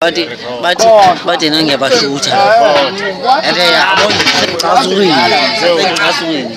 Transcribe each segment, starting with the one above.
bathi bathi bathi nangiyabashutha ende yabo ngicasukile ngicasukile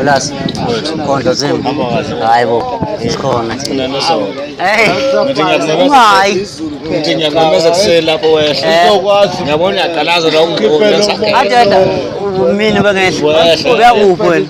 Ulasi khondlo zimbi hayi bo isikhona thina ungayi ngithi ngiyamemeza kuseni lapho wehla ngiyabona uyaqalaza la ungibona adeda mina ubengehla uyakuphi wena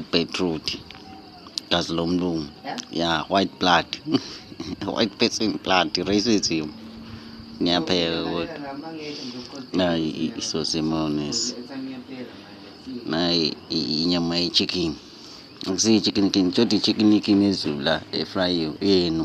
ubeetroot gazi lomlungu yeah? yeah white blood white person blood racism ngiyapheka kodwa nayi isosemones nayi inyama ye-chicken akusiyi-chicken kin tshodi i-chicken ikin ezulu la efrayiwe yenu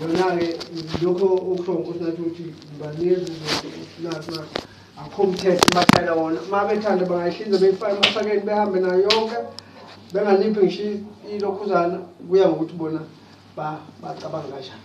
Yona-ke lokho okusho nkosi nathi ukuthi banezi nathi akho mthetho bathayela wona uma bethanda bangayihlinza beyifake emasakeni behambe nayo yonke benganiphi ngisho ilokhuzana kuya ngokuthi bona bacabanga kanjani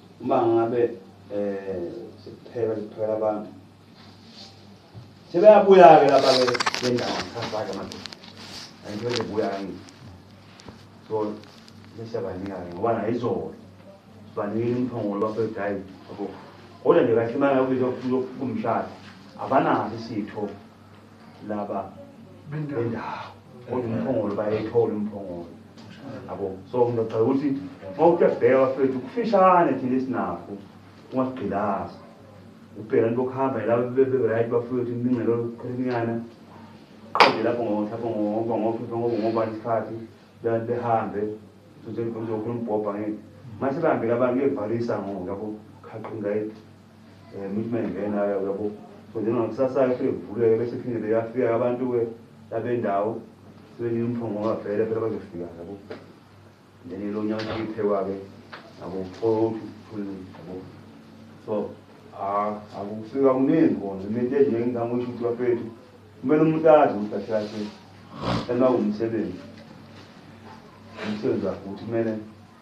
uma ngabe eh sikupheka sikuphela abantu sebeyabuya ke laba ke bendawo ngisafaka manje angibele buya ngi so ngisabanika ke ngoba na izolo sibanikile umphongolo lapho egayi yabo kodwa nje kahle manje ukuthi uzokumshada abanazi isitho laba bendawo kodwa umphongolo bayayithola umphongolo yabo so ngizogxeka ukuthi uma ukuyabheka bafethu kufishane thina esinakho ungasigqilazi ubheka nto okuhamba yilabo beberight bafike ukuthi imingcelo qhelinyana qede lapho ngohlapho ngoba ngophepha ngoba ngobani isikhathi bebantu behambe uzokhuluma umbhobha ngeke mase bahambile abantu bevalisa ngoku yabo khaqingayi Eh muthi mengena yabo. Kodwa ngokusasa yafike kuvuleke bese phinde beyafika abantu ke labendawo sebeni umphongo wavela phela bazofika yabo. Then lo nyaka uphekwa ke yabo phofu phulu yabo. So ah akusika kuningi kona into enje ngizama ukuthi uthi bafethu kumele umuntu azi ukuthi kahle kahle ena umsebenzi umsebenzi wakhe ukuthi kumele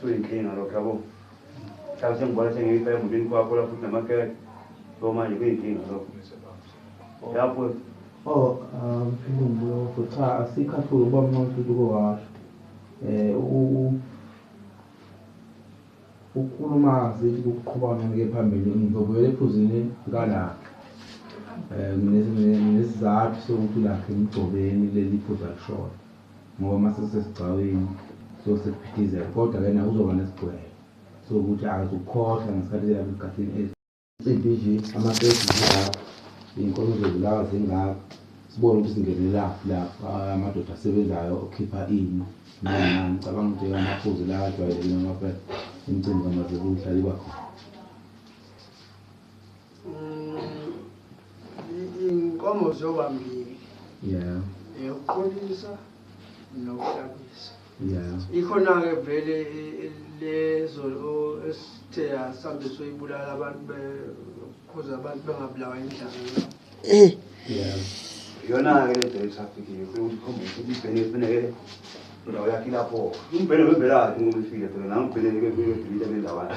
Suyinkinga lokho yabo. Mhlawumbe sengibona sengiyifa emulini kwakho lapho unamakeke. So manje kuyinkinga lokho. Yabo. Oh, um, lokho cha asikhathuki uba mnqothi ukuthi ukowasho. Eh, u ukukhuluma sithi kuqhuba ngeke phambili ngizobuyela ephuzini kalapha um eh, nesizathu sokuthi lakhe emgcobeni leli phuza lishona ngoba masesesigcawini so sekuphithizela kodwa ke naye uzoba nesigcwele so ukuthi akazukukhohlwa ngesikhathi kuyaba egadini ezi impi nje amakesi zingaka iy'nkomo zozilaka zingaka sibone ukuthi singenelaphi lapho amadoda asebenzayo okhipha ini nani cabanga ukuthi amaphuzi la ajwayelekile ngapha imicimbi kamazebuhlaliba khona iy'nkomo zoba mbili yeah eyokuqolisa nokuhlabisa yeah ikhona-ke vele lezo esithe asambe soyibulala abantu bekhuza abantu bengabulawa indlala eh yeah yona-ke le date afikile funa ukuthi khombe ukuthi ibhene kufuneke ndawo yakhe lapho umbhene wembelakhe ngoba ifile phela nangibheneke kuyodilita le ndawana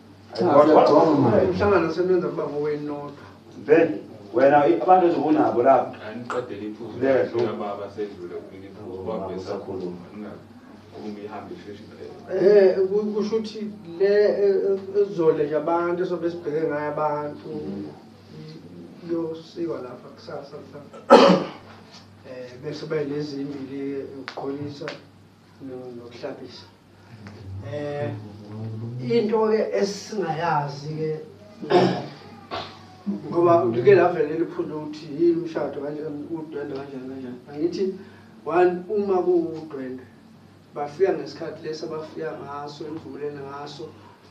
umhlangano sebenza kuba ngowenu nodwa vele wena abantu ezobunabo lapho angiqedele iphuzu baba sedlule kumina iphuzu baba besakhuluma uma ihambe isheshe iphele eh kusho ukuthi le ezole nje abantu esobe sibheke ngayo abantu yosikwa lapha kusasa mhlawumbe eh bese bayinezimbili ukuqolisa nokuhlabisa eh into ke esingayazi ke ngoba ngike lavele liphunde ukuthi yini umshado kanjani udwende kanjani kanjani angithi one uma kuwudwende bafika ngesikhathi lesi abafika ngaso enivumelene ngaso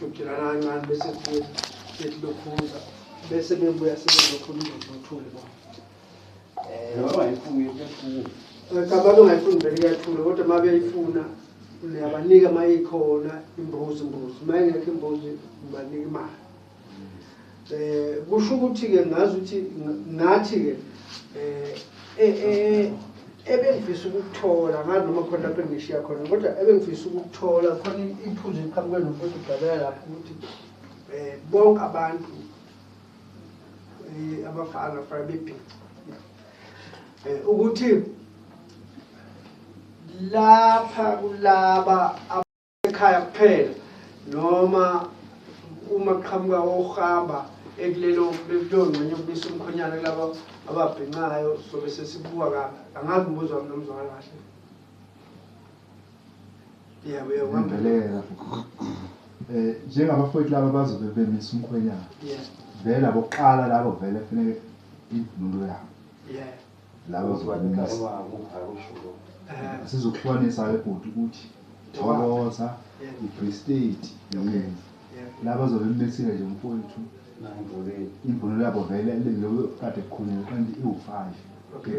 Jukjelana kancane bese kuye sethi lokhuza bese bebuya sebelokhu nothuli bo. Eh baba ifuyo kuyathula. Ngicabanga ungayifuni vele kuyathula kodwa uma beyifuna niyabanika uma ikhona imbuzi imbuzi uma ingekho imbuzi ngibanika imali. Eh kusho ukuthi ke ngazi ukuthi nathi ke eh eh, eh ebengifisa ukuthola ngazi noma khona lapho engishiya khona kodwa ebengifisa ukuthola khona iphuzu eliqhamuke nomfowethu udalela lapho ukuthi eh bonke abantu eh, abafana fana bebhica eh, ukuthi lapha kulaba ekhaya kuphela noma uma kuqhamuka ohamba ekulelo kuleyo ngxenye yokubisa umkhonyana kulaba ababhincayo sobe sesibuka ka angazi umbuzo wami nomzwakala kahle yebo yebo ngambeleka eh njengabafowethu laba bazobe bemisa umkhonyana vele abokuqala labo vele kufanele imvunulo yabo Laba zokumisa. Sizokuhlukanisa-ke bhuti ukuthi thokoza i-free state yini laba zobe mmesile nje mfowethu imvunulo yabo vele leyo kade kukhulunywe kanti iwu-five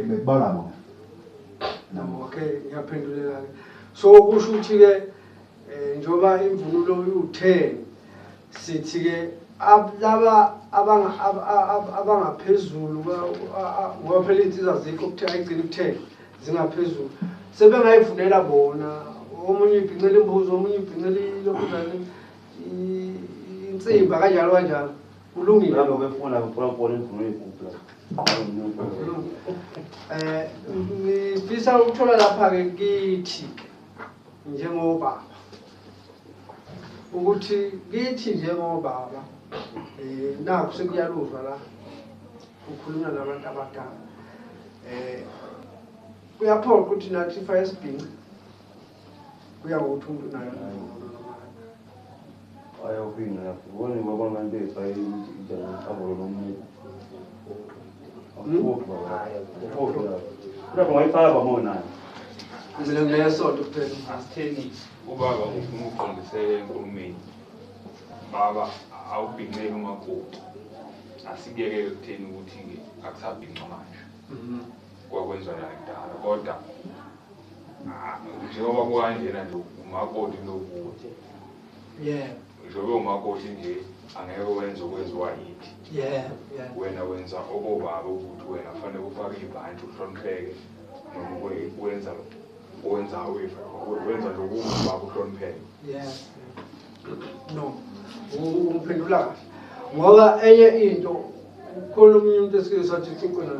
bekubala bona nabo okay ngiyaphendulelake so kusho ukuthi-ke um njengoba imvunulo iwu-ten Sithi ke laba abangaphezulu ngoba phela iy'nsiza zikho kuthiwa ayigcini kuthela zingaphezulu sebengayivunela bona omunye ibhincela imbuzi omunye ibhincela ilokhuzane insimba kanjalo kanjalo kulungile um ngifisa ukuthola lapha-ke kithi njengobaba ukuthi kithi njengobaba eh nakho sekuyaluzwa la ukhuluma nabantu abadala eh kuyaphoqa ukuthi nathi ifa esibhinci kuya ngokuthi umuntu unayo ayawubhinca yakho ubone ngoba abantu efa injani abolo nomuntu ubaba ufuna ukuqondisela enkulumeni baba awubhinceke umakoti asikuyeke ekutheni ukuthi-ke akusabhinca manje mhm. kwakwenziwa nakudala kodwa njengoba kukanjena nje umakoti lokuthi yebo Ngisho bewumakoti nje angeke wenze okwenziwa yithi. Yeah, yeah. Wena wenza obobaba ukuthi wena kufanele ufake ibhanti uhlonipheke noma kwe- wenza wenza we- wenza lokubaba uhlonipheke. Yeah. No. U- Uphendula kahle. Ngoba enye into ukhona omunye umuntu esike sathi uxoxe naye.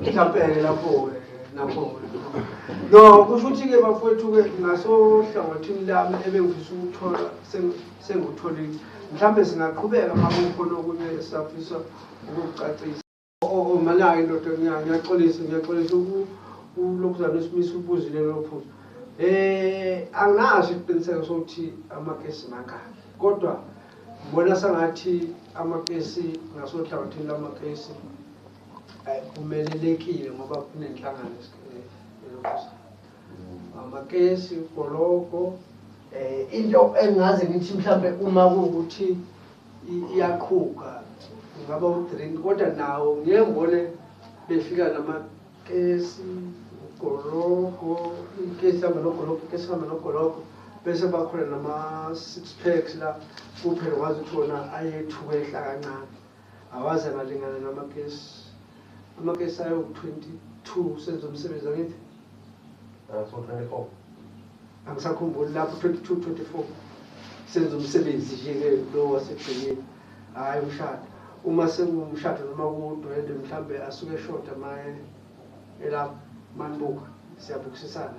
Mhlawumbe lapho-ke lapho no kusho ukuthi-ke bafowethu-ke ngasohlangothini lami ebengifisa ukuthola sengikutholile mhlawumbe singaqhubeka uma kukhona okunye esafisa ukukucacisa omanayo indoda ngiyaxolisa ngiyaxolisa ulokhuzana esimisa ubuzile lophuza um eh, anginaso isiqiniseko sokuthi amakesi mangaki kodwa ngibona sengathi amakesi ngasohlangothini lamakesi Umelelekile ngoba kunenhlangano elokuza. Amakesi, ugologo, eh into engaze ngithi mhlambe uma ukuthi iyaqhuka ngaba udrink kodwa nawo ngeke ngibone befika nama kesi ugologo ikesi hamba nogologo ikesi hamba nogologo bese bakhona nama six packs la kuphela wazi ukuthi wona ayethuka ehla kancane Awaze ngalingana namakesi. Amakesi ayo 22 senza umsebenzi angithi. Aso 24. Angisakhumbuli lapho 22 24. Senza umsebenzi nje ke lo wasegcineni. Hayi umshado. Uma sengumshado noma kudwende mhlambe asuke shota maye elapho manbuka siyabukisisana.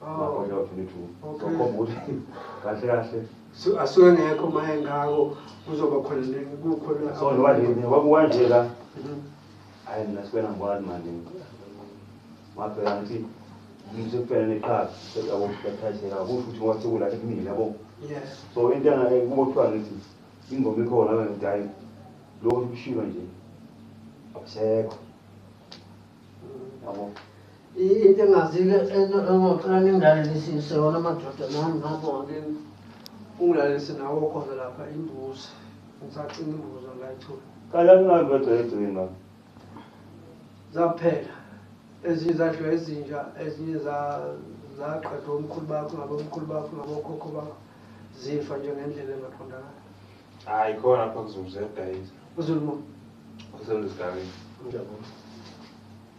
magonya u-22 sokhomba ukuthi kahle kahle asuke ngekho uma engako kuzoba khona kukhona so njengoba nje kwakuwa nje la hhayi mina sikwena ngibona manje ngabheka ngithi yiso kuphela neqhaza yabo bathathela kusho ukuthi ngoba sekula ekumile yabo so into kubo kuthiwa ngithi ingoma ikhona ngithi hhayi lokho kushilo nje akusekho yabo Into engazike engocela ningilalelisise yona madoda nami ngapho ngakini ungilalise nawo khona lapha imbuzi ngisacima imbuzi angayithula kala kungabi bagcegcina zaphela ezinye zadliwa ezinja ezinye zaqedwa omkhulu bakho ngabomkhulu bakho ngabokhokho bakho zifa nje ngendlela engaqondakala hayi khona pha kuzulu ziyadayisa uzulu mo uselusigabeni ngiyabona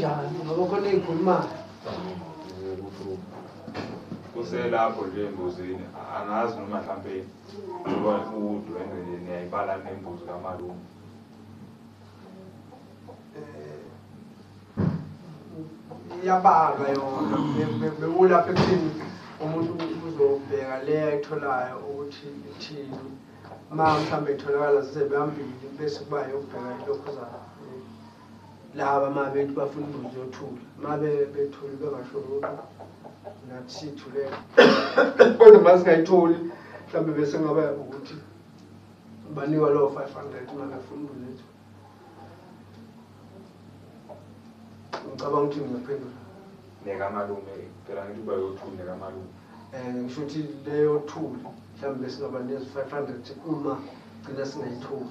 kanjani ngoba khona engikhulumayo kuselapho nje embuzini angazi noma mhlampe ngoba udwendwe nje niyayibala nembuzi kamalume iyabalwa yona bewulapha ekuthini umuntu uzobheka le ayitholayo ukuthi ithini uma mhlawumbe itholakala zizebambili bese kuba yokubheka ilokhu zayo laba uma bethi bafuna imbuzi yothula uma bethule bengasho lutho nathi sithulela kodwa uma singayitholi mhlawumbe bese ngaba ukuthi banikwa lowo five hundred uma befuna imbuzi yethu ngicabanga ukuthi ngingaphendula nekamalume phela ngithi uba yothuli nekamalume um eh, ngisho ukuthi leyothuli mhlawumbe singaba nezi-five hundred uma gcina singayithuli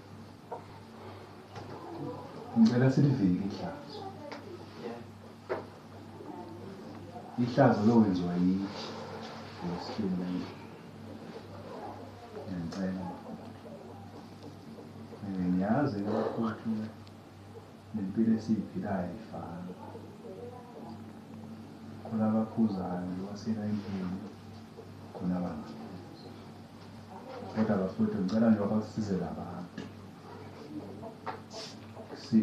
ngicela silivike ihlazo ihlazo lowenziwa yithi ngesihlula ngicela ngiyazi ukuthi nempilo esiyiphilayo ifana khona abaphuzayo wasela impilo khona abangaphuzi Kodwa bafowethu ngicela nje babasize labantu. Si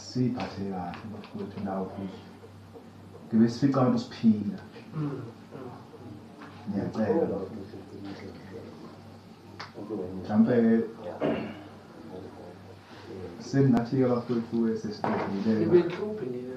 siphathe kahle bafowethu nawo futhi. Ngibe sifica abantu siphila. Ngiyacela bafowethu. Mhlampe seningathi-ke bafowethu esesibhedile. Ibe nhluphi nina.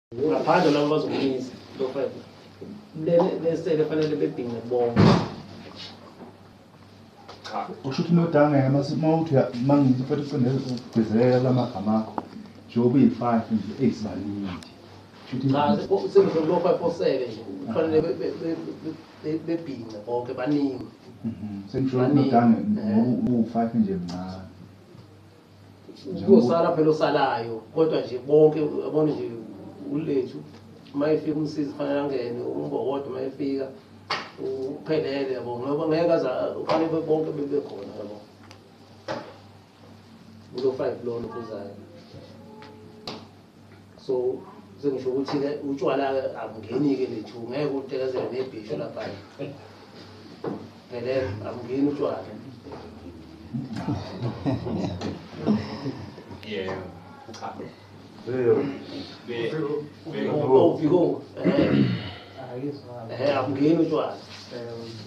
ngaphandle labo bazokunyisa into five lesele fanele bebhinge bonke cha usho ukuthi nodanga yena mase mawuthi mangithi futhi ucindele ukugcizelela lamagama akho njengoba uyi-five nje eyizibaningi cha sekuzokulo five four seven nje kufanele bebhince bonke baningi mhm. sengisho nodanga eh. uwu-five nje mncane kuyosala phela osalayo kodwa nje bonke abone nje ulethu uma efika umsizi fanele angene umbokodo uma efika uphelele yabo ngoba ngeke aza ufanele bonke bebe khona yabo kulo five lona kuzayo so sengisho ukuthi-ke utshwala-ke abungeni-ke lethu ngeke utekezele nebhisho laphaya ngele abungeni utshwala yeah cha akungeni utshwala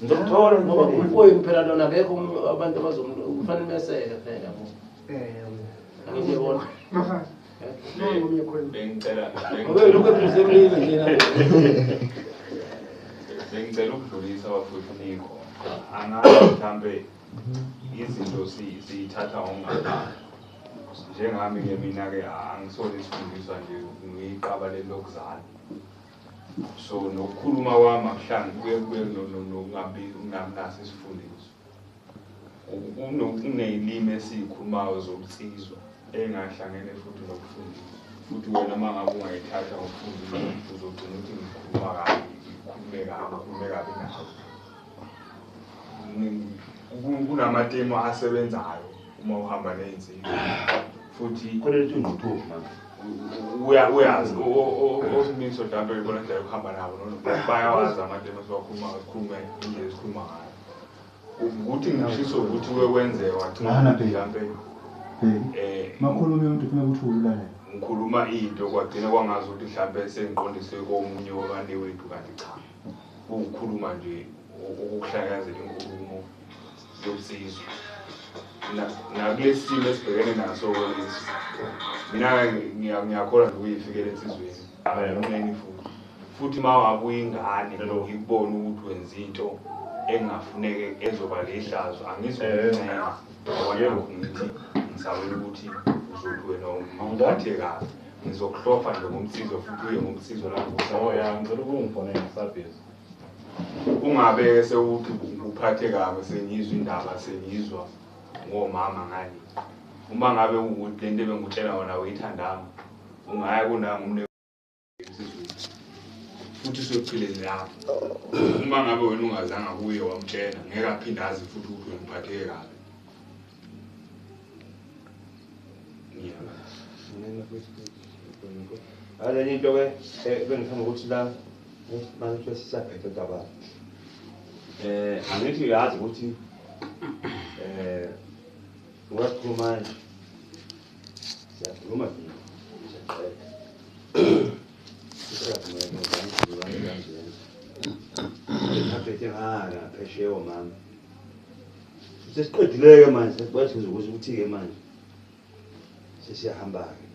ngizokuthola ngoba umpoyini phela lona akekho abantu abazofanele meseke phela yabo angiyibona bengicela bengicela ukudlulisa bafuthu nikho angazi mhlampe izinto siyithatha ngokungafani njengami ke mina-ke angisona isifundiswa nje ngiyiqaba leli lokuzala so nokukhuluma kwami akuhlangi kuye kube nokungabi nginamnaso isifundiswa Uneyilimi esiyikhulumayo zobunsizwa engahlangene futhi nokufundisa. Futhi wena uma ngabe ungayithatha ngokufundisa uzogcina ukuthi ngikhuluma kabi, ngikhulume kabi, ngikhulume kabi nawe. Kunamatemu asebenzayo uma uhamba ney'nsizwa futhi uyazi osimiso mhlawumbe uyibona indlela yokuhamba nabo bayawazi amatemu esiwakhulumayo sikhulume indlela esikhuluma ngayo Ukuthi ngishiso ukuthi we wenze wathana mhlampe eh makhuluma umuntu ufuna ukuthi uwulale. Ngikhuluma into kwagcina kwangazi ukuthi mhlampe sengiqondise komunye wabane wethu kanti cha. Ukukhuluma nje ukuhlakazela inkulumo yobusizwe. Nakulesimo esibhekene naso lesi. Mina ngiyakholwa nje uyifikele insizweni. Amen futhi. Futhi mawabu ingane ngikubona ukuthi wenza into engafuneke ezoba lehlazo angizokuncela. Yebo ngithi ngisabela ukuthi uzothi wena ungathi kahle. Ngizokuhlofa nje ngomsizo futhi uye ngomsizo lapho. Oh ya ngicela ukungifonela ngisabhizi. Ungabe sewuthi uphathe kabi sengizwa indaba sengizwa ngomama ngani. Uma ngabe ukuthi lento ebengikutshela wona uyithandanga ungaya kunanga umne futhi sochileni lapho uma ngabe wena ungazanga kuye wamtshela ngeke aphinde azi futhi ukuthi wena uphatheke kabi Aleni into ke bengithanda ukuthi la manje sisaphethe daba eh angithi uyazi ukuthi eh ngoba sikhuluma manje Siyakhuluma nje. Aphethe ngaka phesheya omama. Sesiqedileke manje sesibathi ukuthi ukuthi-ke manje sesiyahamba-ke.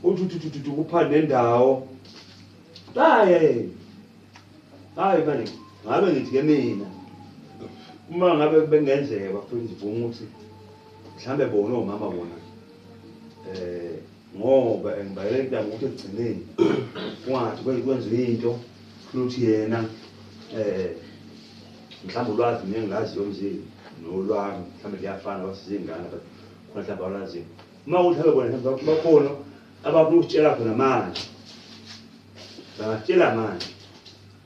Uthi uthi uthi uthi kupha nendawo. Hayi hayi. Hayi manje ngabe ngithi ke mina uma ngabe bengenzeka bafuna izivumo ukuthi mhlambe bona omama bona eh ngoba engibayele intanga ukuthi ekugcineni kungathi kwenziwa into futhi yena eh mhlawumbe ulwazi mina engilazi yomzini nolwami mhlawumbe liyafana basizingane but khona mhlawumbe awulazi uma ukuthi habe bona mhlawumbe bakhona abafuna ukutshela khona manje bangatshela manje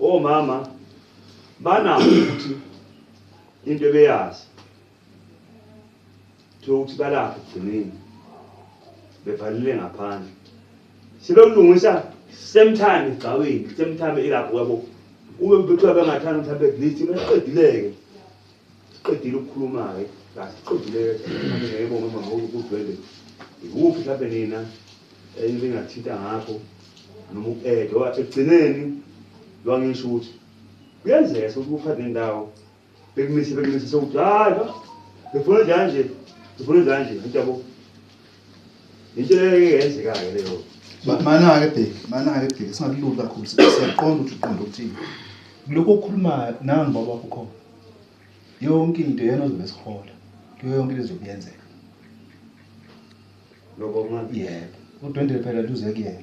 Omama banakho ukuthi into ebeyazi kuthiwa ukuthi balapha ekugcineni bevalile ngaphandle sebelungisa same time egcawini same time ilapho yabo ube kuthiwa bengathanda mhlawumbe at least beqedileke Siqedile ukukhuluma-ke kasiqedile ngeke uma ukudlwele ikuphi mhlawumbe nina elingathinta ngakho noma uku-eda oba ekugcineni lwangisho ukuthi kuyenzeka sokuthi kuphathe nendawo bekumise bekumise sokuthi hayi befuna njani nje befuna njani nje anti yabo Into engenzekayo leyo. Mana-ke bheki, mana-ke bheki, singakululi kakhulu, siyaqonda ukuthi uqonda ukuthini. Lokhu okukhulumayo nangu baba wakho khona. Yonke into yena ozobe esihola. Kuyo yonke into ezobe yenzeka. Lokho kungabi. Yebo. Udwendele phela luze kuyena.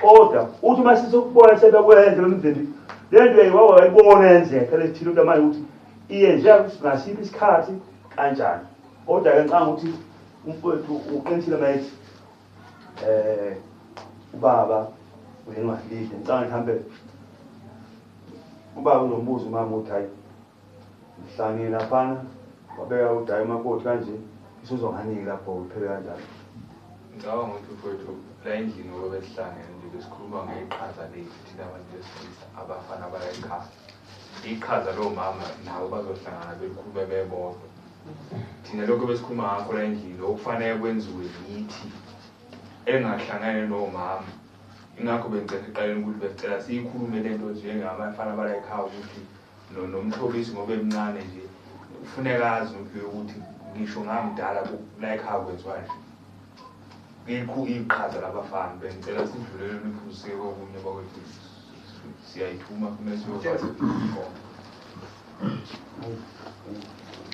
kodwa uthi uma sisokubona sebekwenze lomndeni le nto yayiwawa wayibona yenzeka lethile into manje ukuthi iyenzeka ngasiphi isikhathi kanjani kodwa-ke ngicanga ukuthi umfowethu uqinisile mayethi um eh, ubaba uyenwadlile ngicanga ngihambe ubaba unombuzo umama ukuthi hhayi Ngihlangile laphana wabeka udayi umakoti kanje isuzwa nganiki lapho uphele kanjalo. Ngicabanga ukuthi mfowethu la endlini ngoba besihlangene nje besikhuluma ngeqhaza lethu thina abantu besilisa abafana bayayiqhaza iqhaza lowo mama nabo bazohlangana belikhulume bebodwa thina lokho besikhuluma ngakho la endlini okufanele kwenziwe yithi engahlangene nowo mama ingakho bengicela eqaleni ukuthi besicela siyikhulume le nto njengabafana bala ekhaya ukuthi no nomxolisi ngoba emncane nje kufuneka azi umphiwe ukuthi ngisho ngamdala like how kwenziwa nje ngikho iqhaza labafana bengicela sidlulele niphusike kokunye bakwethu siyayithuma kumele siyokwazi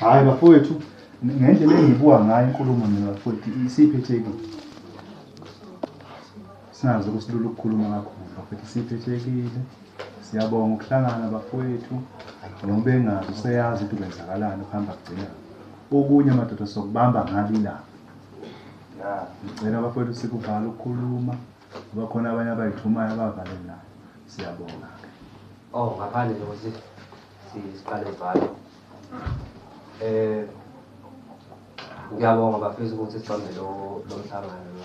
hayi bafowethu ngendlela engibuka ngayo inkulumo nabafowethu isiphi ethekile Singazi ukusilula ukukhuluma kakhulu bafethu siphehlekile. Siyabonga ukuhlangana bafowethu noma bengazi useyazi ukuthi kwenzakalani ukuhamba kugcina. Okunye madoda sokubamba ngabi la. Ngicela bafowethu sikuvala ukukhuluma ngoba khona abanye abayithumayo abavalelayo. Siyabonga. Oh ngaphandle nje ukuthi si- siqale valo. Eh ngiyabonga bafisa ukuthi sibambe lo lo mhlangano lo.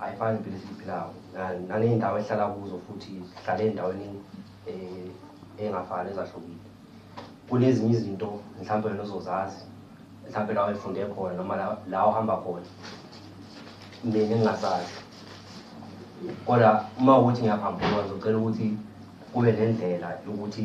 Ayifani impilo esiyiphilayo naney'ndawo esihlala kuzo futhi sihlala ey'ndaweni eh, ey'ngafani ezahlukile. Kunezinye izinto mhlawumpe wena ozozazi mhlawumpe la wayifunde khona noma la ohamba khona mina engingasazi kodwa uma ukuthi ngiyaphambukwa ngizocela ukuthi kube nendlela yokuthi